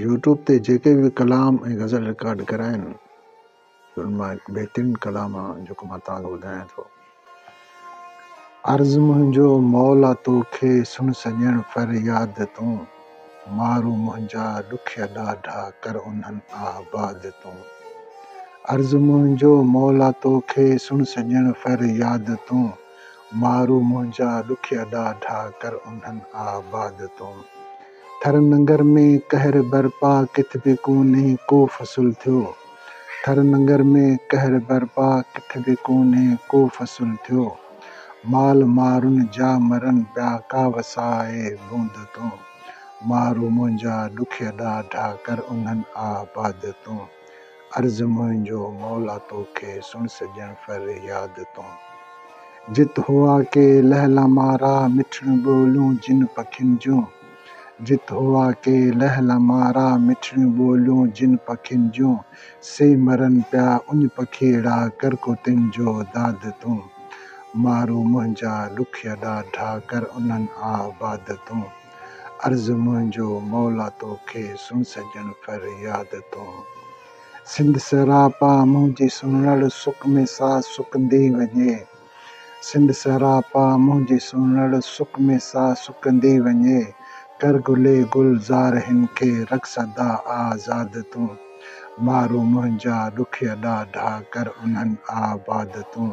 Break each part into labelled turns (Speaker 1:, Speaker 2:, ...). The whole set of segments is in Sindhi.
Speaker 1: يوٽيوب تي جيڪي به ڪلام ۽ غزل رڪارڊ ڪيا آهن ان مان هڪ بهترين ڪلام جيڪو مان توهان کي ٻڌايان ٿو. عرض منهنجو مولا توکي سڻ سڄڻ فرياد تون مارو منهنجا ڏکيا ڏاڍا ڪر انهن آباد تون عرض منهنجو مولا توکي سڻ سڄڻ فرياد تون مارو منهنجا ڏکيا ڏاڍا ڪر انهن آباد تون. ٿر ننگر ۾ قهر برپا ڪٿ به ڪونهي ڪو فصل ٿيو ٿر ننگر ۾ قهر برپا ڪٿ به ڪونهي ڪو فصل ٿيو مال مارن جا مرن پيا ڪا وسائي لوند تون مارو منهنجا ڏکيا ڏاڍا ڪر انهن آباد تون. عرض منهنجو مولا تو کي، سڻ سڄڻ فر ياد تون. جت هئا ڪي لهلا مارا، مٺڙيون ٻوليون جن پکين جون. جت هئا ڪي لهلا مارا، مٺڙيون ٻوليون جن پکين جون. سي مرن پيا اڃ پکيئڙا، ڪر ڪو تن جو داد تون. مارو منهنجا ڏکيا ڏاڍا، ڪر انهن آ باد تون. عرض منهنجو مولا تو کي، سڻ سڄڻ ڦر ياد تون. سنڌ سراپا منهنجي سنڙ، سڪ ۾ ساهه سڪندي وڃي. سنڌ سراپا منهنجي سنڙ، سڪ ۾ ساهه سڪندي وڃي. ڪر گلي گل زار هن کي، رک سدا آ زاد تون. مارو منهنجا ڏکيا ڏاڍا، ڪر انهن آ باد تون.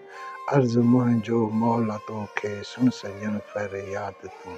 Speaker 1: عرض منهنجو مولا توکي، سڻ سڄڻ فرياد تون.